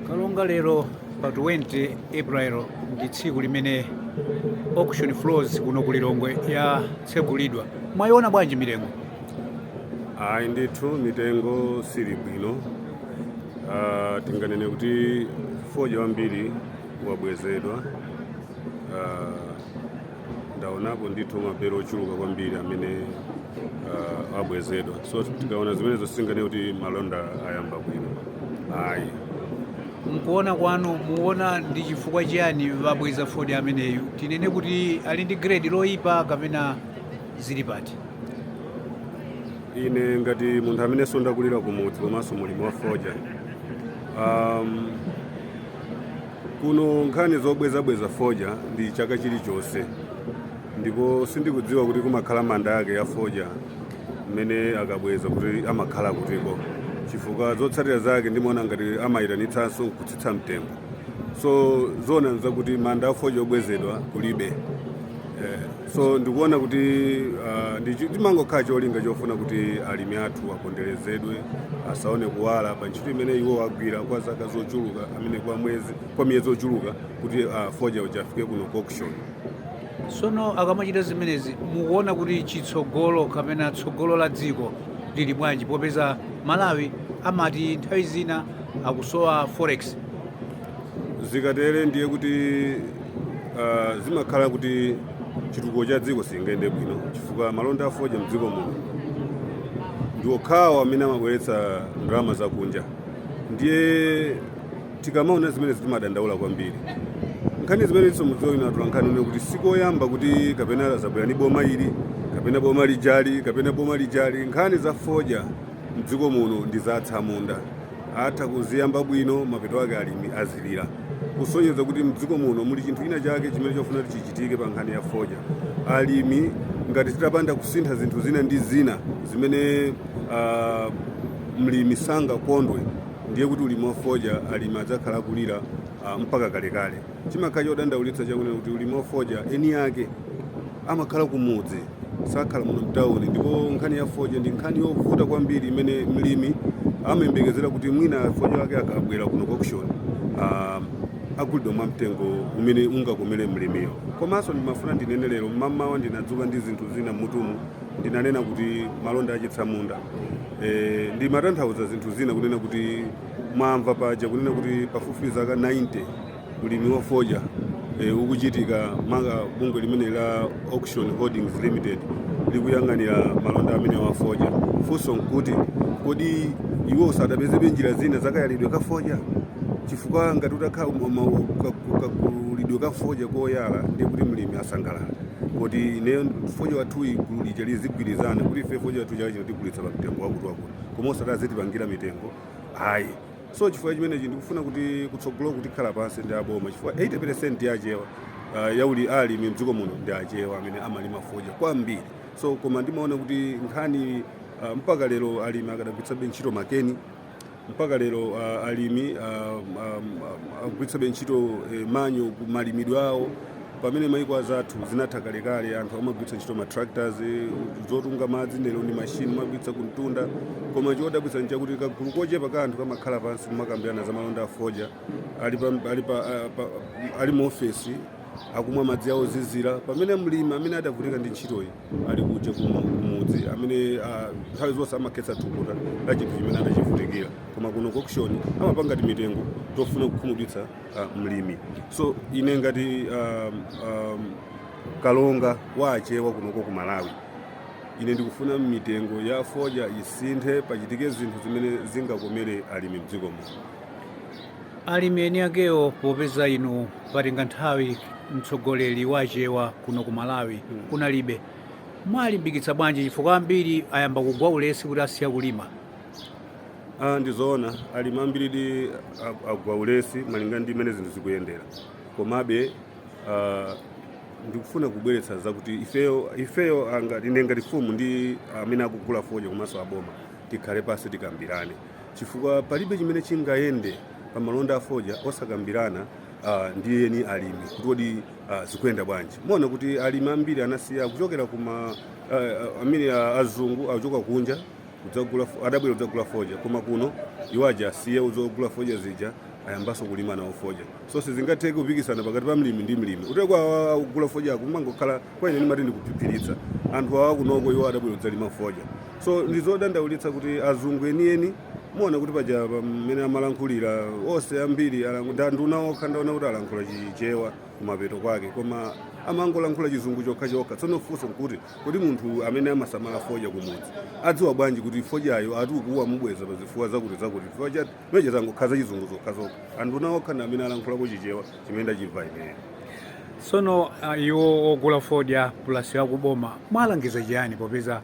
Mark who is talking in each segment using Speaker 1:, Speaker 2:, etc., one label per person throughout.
Speaker 1: monga lero pa 20 april ndi tsiku limene auction floors kuno ku lilongwe yatsegulidwa mwayiona bwanji mitengo
Speaker 2: ayi ndithu mitengo sili bwino Ah, tinganene kuti fodya wambiri wabwezedwa Ah, ndaonapo ndithu mabelo ochuluka kwambiri amene uh, abwezedwa so tikaona zimenezo singanene kuti malonda ayamba bwino ayi
Speaker 1: mkuona kwanu muona ndi chifukwa chiyani wabweza fodya ameneyu tinene kuti ali ndi grade loyipa kapena zili pati ine
Speaker 2: ngati munthu amenenso ndakulira kumudzi komanso mulimi wa fodya um, Kuno nkhani zobwezabweza fodya ndi chaka chilichonse, ndipo sindikudziwa kuti kumakhala manda ake a fodya mmene akabweza kuti amakhala akutiko, chifukwa zotsatira zake ndimaona ngati amayitanitsanso nkutsitsa mtengo. So zoona nzakuti manda a fodya obwezedwa kulibe. Eh. so ndikuona kuti ah, ndi chi- chimangokhala cholinga chofuna kuti alimi athu aponderezedwe asaone kuwala pa ntchito imene iwo agwira kwa zaka zochuluka amene kwa mwezi kwa miyezi ochuluka kuti ah, fodya uja afike kuno ku auction
Speaker 1: sono akamachita zimenezi mukuona kuti chitsogolo kapena tsogolo la dziko lili bwanji popeza malawi amati nthawi zina akusowa forex
Speaker 2: zikatere ndiye kuti ah, zimakhala kuti chitukuko cha dziko sichingaende bwino chifukwa malonda a fodya mdziko muno ndi okhawo amene amabweretsa ndalama zakunja ndiye tikamaona zimenezi timadandaula kwambiri nkhani zimenezinso mudziwa inu atolankhani kunena kuti sikoyamba kuti kapena zabwera ndi boma ili kapena boma lijali kapena boma lijali nkhani za fodya mdziko muno ndi za atsamunda atha kuziyamba bwino mapeto ake alimi azilira kusonyeza kuti mdziko muno muli chinthu china chake chimene chofuna kuti chichitike pa nkhani ya fodya alimi ngati titapanda kusintha zinthu zina ndi zina zimene ah, mlimi sangakondwe ndiye kuti ulimi wa fodya alimi adzakhala akulira ah, mpaka kalekale chimakhala chodandaulitsa chakunena kuti ulimi wa fodya eni ake amakhala kumudzi sakhala muno mtawuni ndipo nkhani ya fodya ndi nkhani yovuta kwambiri imene mlimi amayembekezera kuti mwina fodya wake akabwera kuno ku auction ah, agulidwa mwa mtengo umene ungakomere mlimiyo komanso ndimafuna ndinene lero mmamawa ndinadzuka ndi zinthu zina mmutumu ndinanena kuti malonda achitsamunda e, ndimatanthauza zinthu zina kunena kuti mwamva paja kunena kuti pafupifupi zaka 90 ulimi wa fodya e, ukuchitika monga bungwe limene la auction holdings limited likuyang'anira malonda amene wa fodya funso nkuti kodi iwo sadapezebe njira zina zakayalidwe ka fodya chifukwa ngati utakhala kakulidwe ka fodya koyala ndiye kuti mlimi asangalala kuti ineyo fodya wathuyi gulu lija lizigwirizana kuti ife fodya wathu chaka chino tigulitsa pa mtengo wakuti wakuti koma usati azitipangira mitengo ayi so chifukwa chimenechi ndikufuna kuti kutsogolo tikhala pansi ndi aboma chifukwa 80% ya achewa uh, yauli alimi mdziko muno ndi achewa amene amalima fodya kwambiri so koma ndimaona kuti nkhani uh, mpaka lero alimi akadagwiritsabe ntchito makhasu mpaka lero uh, alimi uh, um, um, akugwiritsabe ntchito eh, manja ku malimidwe awo pamene maiko anzathu zinatha kalekale anthu amagwiritsa ntchito ma tractors zotunga madzi lero ndi mashini amagwiritsa kumtunda koma chodabwitsa nchakuti kagulu kochepa ka anthu kamakhala pansi kumakambirana za malonda a fodya ali, pa, ali, pa, a- pa, ali mu ofesi akumwa madzi awo ozizira pamene mlimi amene adavutika ndi ntchitoyi ali kuja kumu- kumudzi amene ah, nthawi zonse amakhetsa thukuta la chinthu chimene adachivutikira koma kuno ku auction amapanga timitengo tofuna kukhumudwitsa uh, mlimi so ine ngati um, um, kalonga wa achewa kunoko ku malawi ine ndikufuna mitengo ya fodya isinthe pachitike zinthu zimene zingakomere alimi mdziko muno
Speaker 1: alimi eni akewo popeza inu patenga nthawi mtsogoleri wa achewa kuno ku malawi kunalibe muwalimbikitsa bwanji chifukwa ambiri ayamba kugwa ulesi kuti asiya kulima Ah, ndi zoona
Speaker 2: alimi ambiridi ag- agwa ulesi malinga ndi mmene zinthu zikuyendera komabe ah, ndikufuna kubweretsa zakuti ifeyo ifeyo anga- ine ngati fumu ndi amene akugula fodya komanso aboma tikhale pansi tikambirane chifukwa palibe chimene chingayende pa malonda a fodya osakambirana ah, ndi eni alimi kuti kodi ah, zikuyenda bwanji muona kuti alimi ambiri anasiya kuchokera kuma ah, ah, amene ah, azungu akuchoka kunja kudzagula adabwera kudzagula fodya koma kuno iwo aja asiya zogula fodya zija ayambaso kulima nawo fodya so sizingatheke kupikisana pakati pa mlimi ndi mlimi ndiyetu kugula fodyako kumangokhala kwa ine ndimati ndikuphiphiritsa anthu awa kunoko iwo adabwera kudzalima fodya so ndizodandaulitsa kuti azungu enieni muona kuti paja pamene amalankhulira onse ambiri alangu- nda- nduna okha ndaona kuti alankhula chichewa kumapeto kwake koma amangolankhula chizungu chokha chokha tsono funso nkuti Kodi munthu amene amasamala fodya kumudzi adziwa bwanji kuti fodyayo ati akuwa mubweza pa zifukwa zakuti zakuti chifukwa chati meche zangokhala zachizungu zokhazokha anthu nawo okha ndi amene alankhulako chichewa chimene ndachimva ineyo tsono
Speaker 1: ah, iwo ogula fodya pulasi akuboma mwalangiza chiyani popeza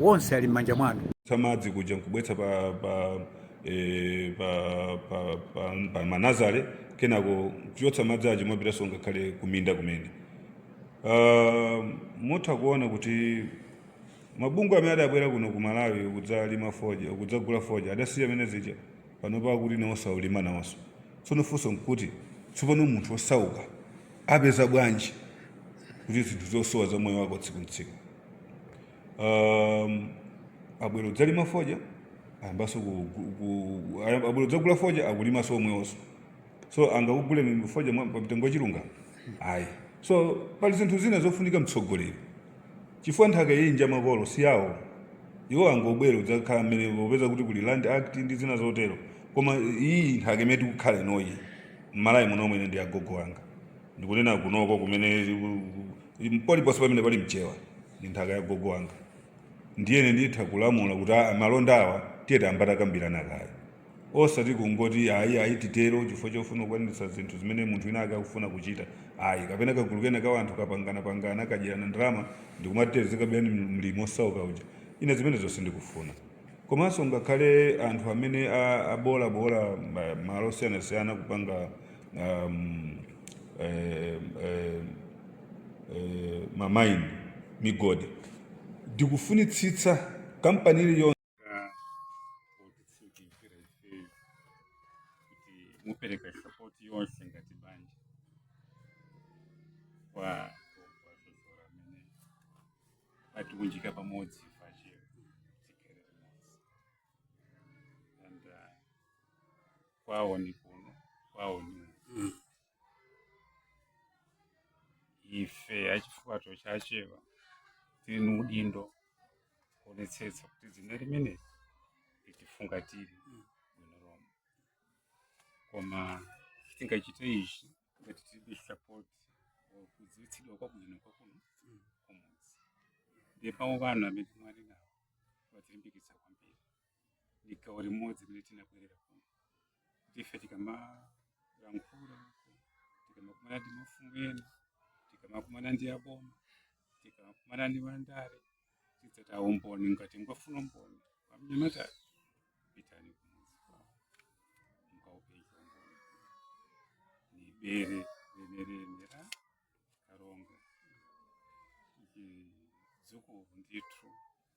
Speaker 1: wonse ali m'manja mwanu tamadzi
Speaker 2: kuja nkubwetsa pa pa eh, pa pa pa, pa manazale kenako kuchotsa madzi aja mwapitanso ngakhale kuminda kumene Uh, mutha kuona kuti mabungwe amene adabwera kuno ku malawi kudzalima fodya kudzagula fodya adasiya mmene zija panopa akuti nawonso akulima nawonso tsono funso nkuti tsopano munthu wosauka apeza bwanji kuti zinthu zosowa za moyo wako tsiku ntsiku um, abwera kudzalima fodya ayambanso ku- ku- ku- ayamba- abwera kudzagula fodya akulimanso omwewonso so angakuguleni fodya mwa- pa mtengo wachilungamo ayi so pali zinthu zina zofunika mtsogolo chifukwa nthaka iyi nja makolo si yawo iwo angobwera kudzakhala mmene popeza kuti kuli land act ndi zina zotero koma iyi nthaka imene tikukhala inoyi m'malawi muno mwene ndi agogo anga ndikunena kunoko kumene paliponse pamene pali mchewa ndi nthaka ya gogo wanga ndiyene nditha kulamula kuti a- malonda awa tiye tayamba takambirana kaye osati kungoti ayi ayi titero chifukwa chofuna kukwaniritsa zinthu zimene munthu wina ake akufuna kuchita ayi kapena kagulu kena ka anthu kapanganapangana kadyerana ndalama ndikumati tizikaberani mlimi osauka uja ine zimenezo sindikufuna komanso ngakhale anthu amene a- abolabola ma- malo osiyanasiyana kupanga um, eh, eh, eh, mamaini migodi ndikufunitsitsa kampani iliyonse ka otitsimikizira
Speaker 3: ifeyo kuti mupereka sapoti yonse ngati banja kwa kwazozora amene atiwunjika pamodzi pache tikhale limodzi and uh, kwawo ni kuno kwawo ni kuno Mm. ife achifukwato cha achewa tiri ni udindo kuonetsetsa kuti dzina limeneli litifungatire bwino lomwe koma sitingachite ichi ngati tilibe support or kudziwitsidwa kwabwino kwakuno kumudzi ndipo mawu anu amene mwali nawo watilimbikitsa kwambiri ndi gawo limodzi limene tinabwerera kuno ndife tikamalankhula uko tikamakumana ndi mafumu ena tikamakumana ndi aboma tikamakumana ndi mandale tidzata umboni ngati mukufuna umboni pamnyamata pitani kumudzi kwawo mukaupeza umboni ni bere lenileni la kalonga chidzukulu ndithu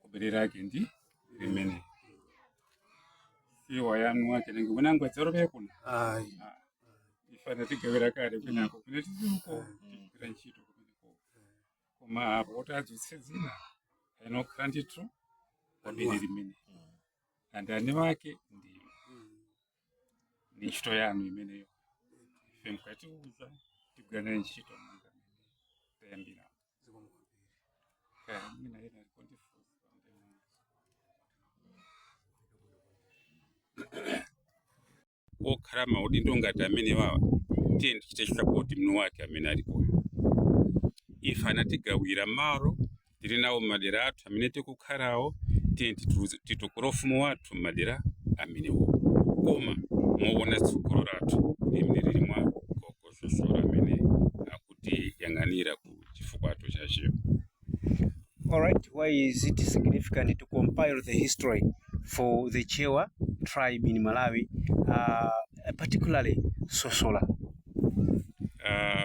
Speaker 3: kubere lake ndi limene siwa yanu ake ningi winangu adzarobere kuno ayi ife anatigawira kale kwinako kune tizuko tigwira ntchito kumeneko koma apo kuti adzutse dzina aina kukhala ndithu pabere limene andani wake ndi ndi ntchito yanu imeneyo ife mukatiuza tigwira naye ntchito monga mmene tayambira zikomo kwambiri kaya mwina ena aliko ndifunsa okhala maudindo ngati amene wawa tiye tichite support mwini wake amene alikoyo ife anatigawira malo tili nawo m'madera athu amene tikukhalawo tiye titu- titukule ufumu wathu m'madera amenewo koma mowona tsogolo lathu limene lili mwa gogo sosola amene akutiyang'anira ku chifukwato cha Achewa
Speaker 4: All right, why is it significant to compile the history for the Chewa tribe in Malawi, uh, particularly Sosola?
Speaker 3: Ah,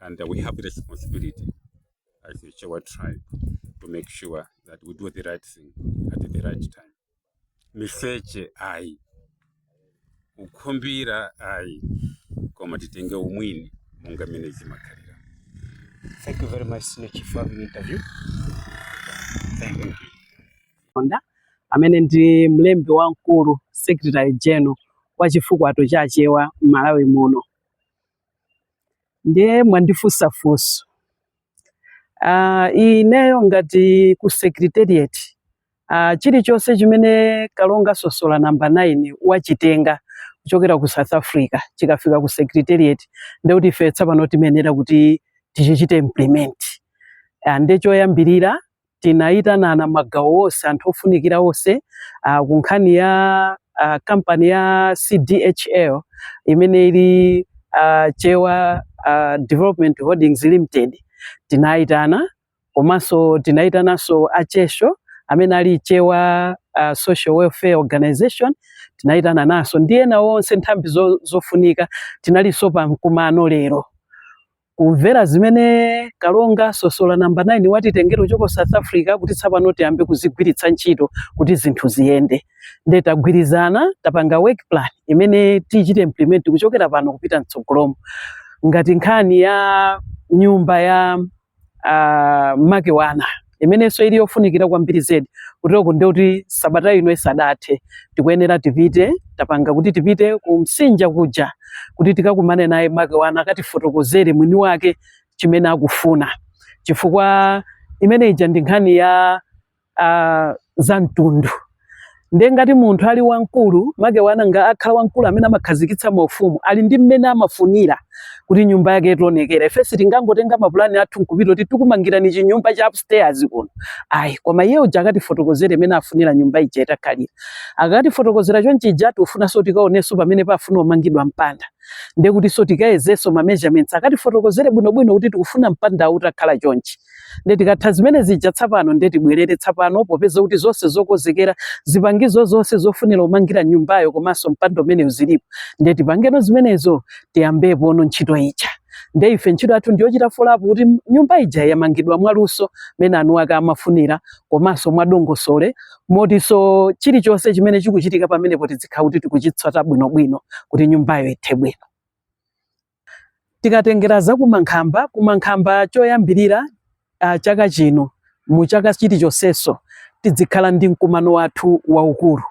Speaker 3: and uh, we have the responsibility as the Chewa tribe to make sure that we do the right thing at the right time. Miseche ayi, kukhumbira ayi, koma titenge umwini monga mmene
Speaker 4: zimakhalira. Thank you very much, Senior Chief, for having the interview. Thank you. Honda amene
Speaker 5: ndi mlembi wamkulu secretary general wa chifukwato cha Achewa m'Malawi muno. ndiye mwandifunsa funso uh, ineyo ngati ku secretariat uh, chilichonse chimene kalonga sosola namba 9 wachitenga kuchokera ku south africa chikafika ku secretariat nde kuti ife tsapano timayenera kuti tichichite implement uh, nde choyambirira tinayitanana magawo onse anthu ofunikira onse uh, ku nkhani ya uh, kampani ya CDHL imene ili uh, Chewa uh, Development Holdings Limited tinayitana komanso tinayitananso achesho amene ali Chewa uh, Social Welfare Organization tinayitananso ndi ena onse nthambi zo, zofunika tinalinso pa mkumano lero kumvera zimene kalonga sosola namba 9 watitengera choka south africa kuti tsapano tiyambe kuzigwiritsa ntchito kuti zinthu ziyende nde tagwirizana tapanga work plan imene tiichite implement kuchokera pano kupita mtsogolomo ngati nkhani ya nyumba ya uh, makewana imenenso ili yofunikira kwambiri zedi kuteroku ndekuti sabata ino isadathe tikuyenera tipite tapanga kuti tipite ku msinja kuja kuti tikakumane naye makewana akatifotokozere mwini wake chimene akufuna chifukwa imene ija ndi nkhani ya uh, za mtundu ndiye ngati munthu ali wamkulu makewana nga akhala wamkulu amene amakhazikitsa maufumu ali ndi mmene amafunira kuti nyumba yake itaonekera ife sitingangotenga mapulani athu nkupita kuti tikumangirani chinyumba cha upstairs kuno ayi koma iye uja akatifotokozere mmene afunira nyumba ija itakhalira akatifotokozera chonchija tikufunanso tikaonenso pamene pafuna umangidwa mpanda ndiye kutinso tikayezenso ma measurements akatifotokozere bwinobwino kuti tikufuna mpanda utakhala chonchi nde tikatha zimene zija tsapano nde tibwerere tsapano popeza kuti zonse zokozekera zipangizo zonse zofunira umangira nyumbayo komanso mpanda umenewu zilipo nde tipangeno zimenezo tiyambepono ntchito ija nde ife ntchito yathu ndiyochita follow up kuti nyumba ija yamangidwa mwaluso mene eni ake amafunira komanso mwadongosolo motinso chilichonse chimene chikuchitika pamenepo tidzikhala kuti tikuchitsatira bwinobwino kuti nyumbayo ithe bwino Tikatengera za kumankhamba, kumankhamba choyambirira uh, chaka chino mu chaka chilichonseso tidzikhala ndi mkumano wathu waukulu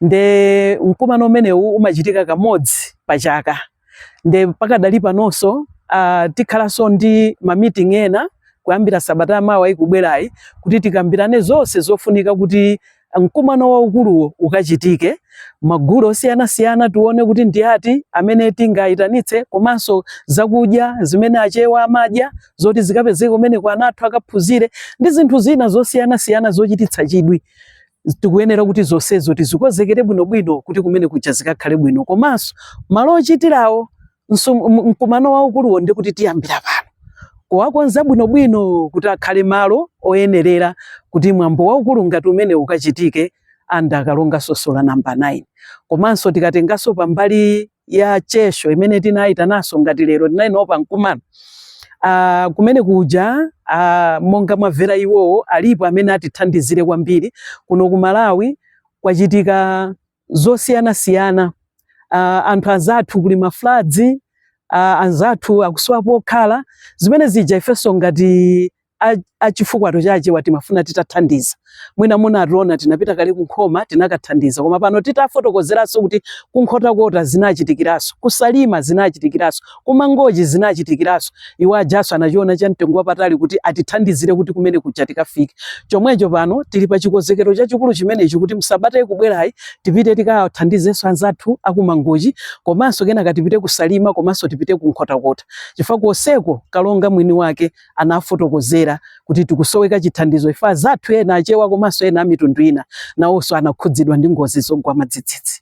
Speaker 5: nde mkumano umenewu umachitika kamodzi pa chaka nde pakadali panonso uh, tikhalanso ndi ma meeting ena kuyambira sabata yamawa ikubwerayi kuti tikambirane zonse zofunika kuti mkumano waukuluwo ukachitike magulu osiyanasiyana tione kuti ndi ati amene tingayitanitse komanso zakudya zimene achewa amadya zoti zikapezeke kumeneko ana athu akaphunzire ndi zinthu zina zosiyanasiyana zochititsa chidwi tikuyenera kuti zonsezo tizikozekere bwinobwino kuti kumene kuja zikakhale bwino komanso malo ochitirawo mkumano waukuluwo ndi kuti tiyambira pano kuwakonza bwinobwino kuti akhale malo oyenerera kuti mwambo waukulu ngati umene ukachitike ananena a kalonga sosola namba 9 komanso tikatenganso pambali ya chesho imene tinayitananso ngati lero tinali nawo pa mkumano Uh, kumene kuja uh, monga mwamvera iwowo alipo amene atithandizire kwambiri kuno ku Malawi kwachitika zosiyanasiyana uh, anthu anzathu kuli ma floods uh, anzathu akusowa pokhala zimene zija ifenso ngati a chifukwato cha achewa timafuna titathandiza mwina munationa tinapita kale kunkhoma tinakathandiza koma pano titafotokozeranso kuti kunkhotakota zinachitikiraso kusalima zinachitikiraso kumangochi zinachitikiranso iwo ajaso anachiona cha mtengo wapatali kuti atithandizire kuti kumene kuja tikafike chomwecho pano tili pa chikonzekero chachikulu chimenechi kuti msabata ikubwerayi tipite tikathandizenso anzathu akumangochi komanso kenaka tipite kusalima komanso tipite kunkhotakota chifukwa konseko kalonga mwini wake anafotokozera kuti tikusoweka chithandizo ife anzathu ena achewa komanso ena amitundu ina nawonso anakhudzidwa ndi ngozi zogwa madzidzidzi